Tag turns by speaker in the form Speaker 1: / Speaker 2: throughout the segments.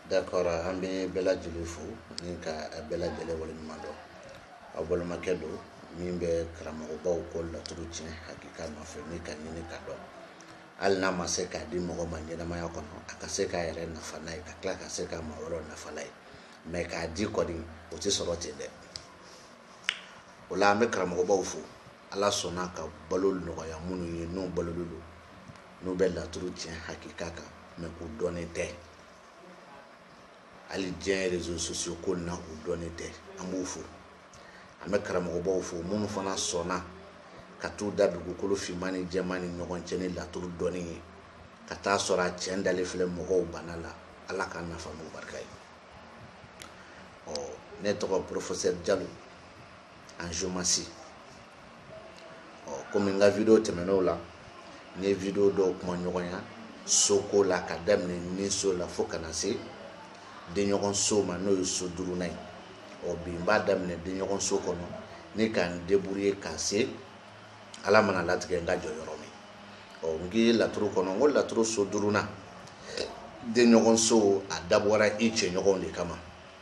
Speaker 1: d'accord an bɛ bɛɛ lajɛlen fo ni ka bɛɛ lajɛlen waleɲuman dɔn aw balimakɛ don min bɛ karamɔgɔbaw ko laturu tiɲɛ hakika nɔfɛ ni ka ɲini ka dɔn hali n'a ma se k'a di mɔgɔ ma ɲɛnamaya kɔnɔ a ka se k'a yɛrɛ nafa n'a ye ka tila ka se ka maa wɛrɛw nafa n'a ye mais k'a di kɔni o tɛ sɔrɔ ten dɛ o la an bɛ karamɔgɔbaw fo Ala sɔnna ka balo nɔgɔya minnu ye n'u balolen don n'u bɛ laturu tiɲɛ hakika kan mais u dɔnnen tɛ hali diɲɛ réseaux sociaux ko na u dɔnnen tɛ an b'u fo an bɛ karamɔgɔbaw fo minnu fana sɔnna ka t'u da dugukolo finman ni jɛman ni ɲɔgɔn cɛ ni laturu dɔnni ye ka taa sɔrɔ a tiɲɛ dalen filɛ mɔgɔw bana la ala k'an nafa n'u barika ye ɔ ne tɔgɔ professeur jalo en géomancie ɔ komi n ka video tɛmɛnenw la n ye video dɔw kuma ɲɔgɔnya soko la ka daminɛ ni so la fo ka na se denɲɔgɔn so ma n'o ye so duurunan ye ɔ bi n b'a daminɛ denɲɔgɔn so kɔnɔ ni ka n debrouiller ka se ala mana latigɛ n ka jɔ yɔrɔ min ɔ n k'i ye laturu kɔnɔ n ko laturu so duurunan denɲɔgɔn so a dabɔra i cɛɲɔgɔnw de kama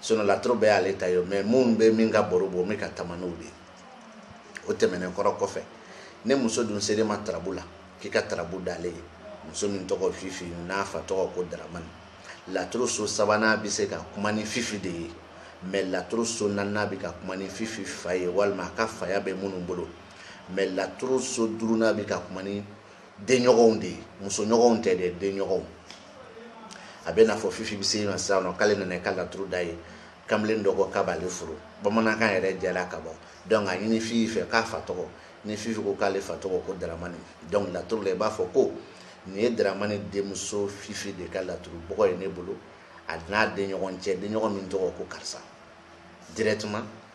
Speaker 1: sinon laturu bɛɛ y'ale ta ye mais min bɛ min ka baro bɔ min ka taama n'o de ye o tɛmɛnen kɔrɔ kɔfɛ ni muso dun sera i ma tarabu la k'i ka tarabu d'ale ye muso min tɔgɔ fifi n'a fa tɔgɔ ko daramani laturu so sabanan bɛ se ka kuma ni fifi de ye mais laturu so naaninan bɛ ka kuma ni fifi fa ye walima a ka faya bɛ minnu bolo mais laturu so duurunan bɛ ka kuma ni denɲɔgɔnw de ye musoɲɔgɔnw tɛ dɛ denɲɔgɔnw a bɛ n'a fɔ fifi bɛ se ma sisan nɔ k'ale nana i ka laturu d'a ye kamalen dɔ ko k'a b'ale furu bamanankan yɛrɛ jɛra ka bɔ donc a ɲini fifi fɛ k'a fa tɔgɔ ni fifi ko k'ale fa tɔgɔ ko daramani donc laturu la i b'a fɔ ko nin ye daramani denmuso fifi de ka laturu bɔgɔ ye ne bolo a n'a denɲɔgɔn cɛ denɲɔgɔn min tɔgɔ ko karisa directement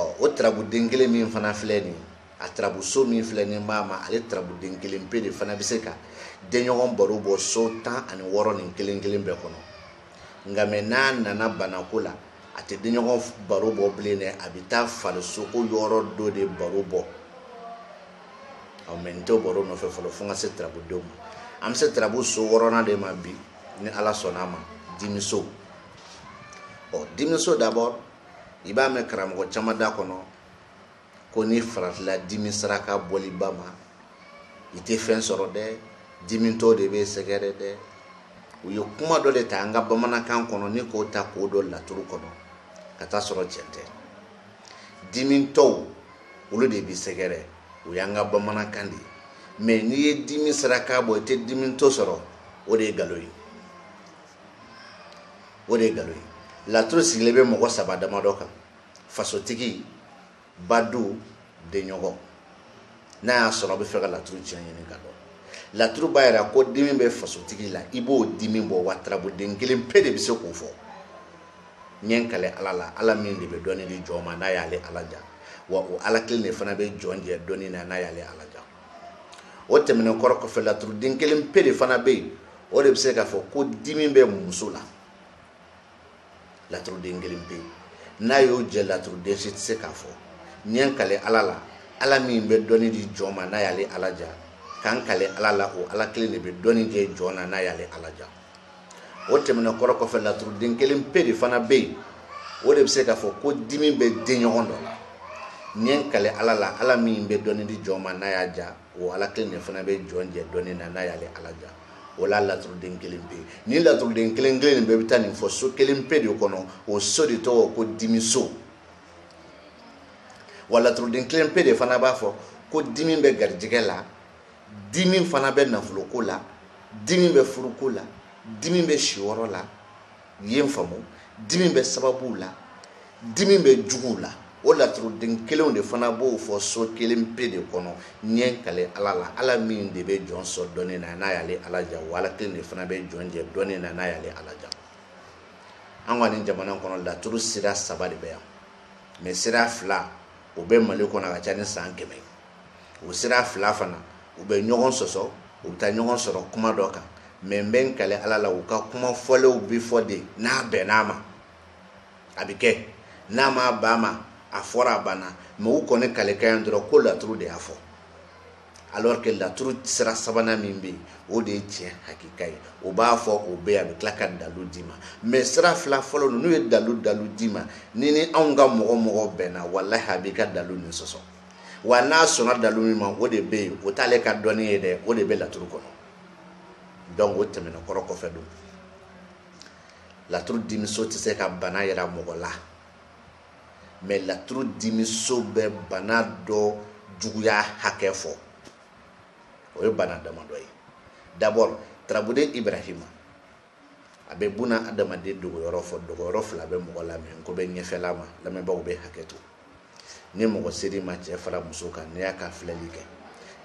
Speaker 1: ɔ o tarabuden kelen min fana filɛ nin a tarabuso min filɛ nin b'a ma ale tarabuden kelen pe de fana bɛ se ka denɲɔgɔn baro bɔ so tan ani wɔɔrɔ nin kelen kelen bɛɛ kɔnɔ nka mais n'a nana banako la a tɛ denɲɔgɔn baro bɔ bilen dɛ a bɛ taa farisoko yɔrɔ dɔ de baro bɔ ɔ mais n tɛ baro nɔfɛ fɔlɔ fo n ka se tarabudenw ma an bɛ se tarabu so wɔɔrɔnan de ma bi ni ala sɔnna a ma dimiso ɔ dimiso d'abord i b'a mɛn karamɔgɔ caman da kɔnɔ ko n'i faratila dimi saraka bɔliba ma i tɛ fɛn sɔrɔ dɛ dimitɔ de bɛ sɛgɛrɛ dɛ u ye kuma dɔ de ta an ka bamanankan kɔnɔ ni k'o ta k'o don laturu kɔnɔ ka t'a sɔrɔ tiɲɛ tɛ dimitɔw olu de bɛ sɛgɛrɛ o y'an ka bamanankan de ye mais n'i ye dimi saraka bɔ i tɛ dimitɔ sɔrɔ o de ye nkalon ye o de ye nkalon ye laturu sigilen bɛ mɔgɔ saba damadɔ kan fasotigi badu denɲɔgɔn n'a y'a sɔrɔ a bɛ fɛ ka laturu tiɲɛ ɲini ka dɔn laturu b'a yira ko dimi bɛ fasotigi la i b'o dimi bɔ wa tarabuden kelen pe de bɛ se k'o fɔ n ye n kale ala la ala min de bɛ dɔnni di jɔn ma n'a y'ale ala ja wa o ala kelen de fana bɛ jɔn jɛ dɔnni na n'a y'ale ala ja o tɛmɛnen kɔrɔ kɔfɛ laturuden kelen pe de fana bɛ yen o de bɛ se k'a fɔ ko dimi bɛ muso la laturuden kelen pe n'a y'o jɛ laturuden si tɛ se k'a fɔ n ye n kale ala la ala min bɛ dɔnni di jɔn ma n'a y'ale ala ja ka n kale ala la o ala kelen de bɛ dɔnni kɛ jɔn na n'a y'ale ala ja o tɛmɛnen kɔrɔ kɔfɛ laturuden kelen pe de fana bɛ yen o de bɛ se k'a fɔ ko dimi bɛ denɲɔgɔn dɔ la n ye n kale ala la ala min bɛ dɔnni di jɔn ma n'a y'a ja o ala kelen de fana bɛ jɔn jɛ dɔnni na n'a y'ale ala ja o la laturuden kelen pe ni laturuden kelen kelen nin bɛɛ bɛ taa nin fɔ so kelen pe de kɔnɔ o so de tɔgɔ ko dimiso wa laturuden kelen pe de fana b'a fɔ ko dimi bɛ garijɛgɛ la dimi fana bɛ nafoloko la dimi bɛ furuko la dimi bɛ siyɔrɔ la yen faamu dimi bɛ sababuw la dimi bɛ juguw la o laturuden kelenw de fana b'o fɔ so kelen pe de kɔnɔ n ye n kale ala la ala min de bɛ jɔn sɔn dɔnni na n'a y'ale ala ja wa ala kelen de fana bɛ jɔn jɛ dɔnni na n'a y'ale ala ja an ka nin jamana kɔnɔ laturu sira saba de bɛ yan mais sira fila o bɛ mali kɔnɔ a ka ca ni san kɛmɛ o sira fila fana u bɛ ɲɔgɔn sɔsɔ u bɛ taa ɲɔgɔn sɔrɔ kuma dɔ kan mais n bɛ n kale ala la u ka kuma fɔlenw bɛ fɔ de n'a bɛnn'a ma a bɛ kɛ n'a ma bɛn a ma a fɔra a banna mais u kɔni kaleka yan dɔrɔn ko laturu de y'a fɔ alors que laturu sira sabanan min bɛ yen o de ye tiɲɛ hakika ye o b'a fɔ o bɛ a bɛ tila ka dalu d'i ma mais sira fila fɔlɔ n'u ye dalu dalu d'i ma ni ni anw ka mɔgɔ mɔgɔ bɛnna walayi a b'i ka dalu nin sɔsɔ wa n'a sɔnna dalu min ma o de bɛ yen o t'ale ka dɔnni ye dɛ o de bɛ laturu kɔnɔ donc o tɛmɛna kɔrɔ kɔfɛ don laturu dimiso tɛ se ka bana yira mɔgɔ la mais laturu dimiso bɛ bana dɔ juguya hakɛ fɔ o ye bana damadɔ ye d'abord tarabuden ibrahima a bɛ buna adamaden dogoyɔrɔ fɔ dogoyɔrɔ fila bɛ mɔgɔ la min ko bɛ ɲɛfɛla ma lamɛnbaaw bɛ hakɛ to ni mɔgɔ ser'i ma cɛ fara muso kan n'i y'a ka filɛli kɛ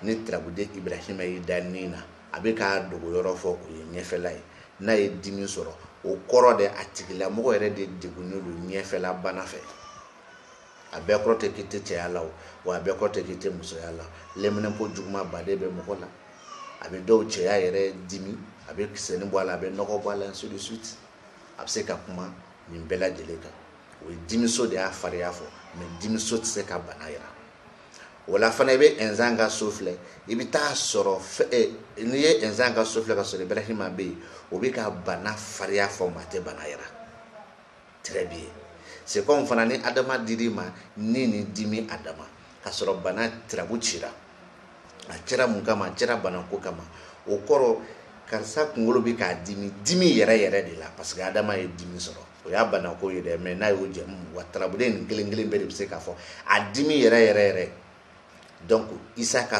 Speaker 1: ni tarabuden ibrahima y'i da nin na a bɛ k'a dogoyɔrɔ fɔ o ye ɲɛfɛla ye n'a ye dimi sɔrɔ o kɔrɔ de a tigilamɔgɔ yɛrɛ de degunnen don ɲɛfɛla bana fɛ a bɛɛ kɔrɔ tɛ k'i tɛ cɛya la o wa a bɛɛ kɔrɔ tɛ k'i tɛ musoya la lɛminɛnpo jugumanba de bɛ mɔgɔ la a bɛ dɔw cɛya yɛrɛ dimi a bɛ kisɛnin bɔ a la a bɛ nɔgɔ bɔ a la ainsi de suite a bɛ se ka kuma nin bɛɛ lajɛlen kan o ye dimiso de y'a fariya fɔ mais dimiso tɛ se ka bana yira o la fana i bɛ inzan ka so filɛ i bɛ t'a sɔrɔ eh, n'i ye inzan ka so filɛ k'a sɔrɔ ibrahima bɛ yen o bɛ ka bana fariya fɔ mais a tɛ bana yira très bien c'est comme fana ni adama dir'i ma ni ni dimi a dama k'a sɔrɔ bana tirabu cira a cira mun kama a cira banako kama o kɔrɔ karisa kunkolo bɛ k'a dimi dimi yɛrɛ yɛrɛ de la parce que adama ye dimi sɔrɔ o y'a banako ye dɛ mais n'a y'o jɛmu wa tarabuden nin kelen kelen bɛɛ de bɛ se k'a fɔ a dimi yɛrɛ yɛrɛ yɛrɛ donc isa ka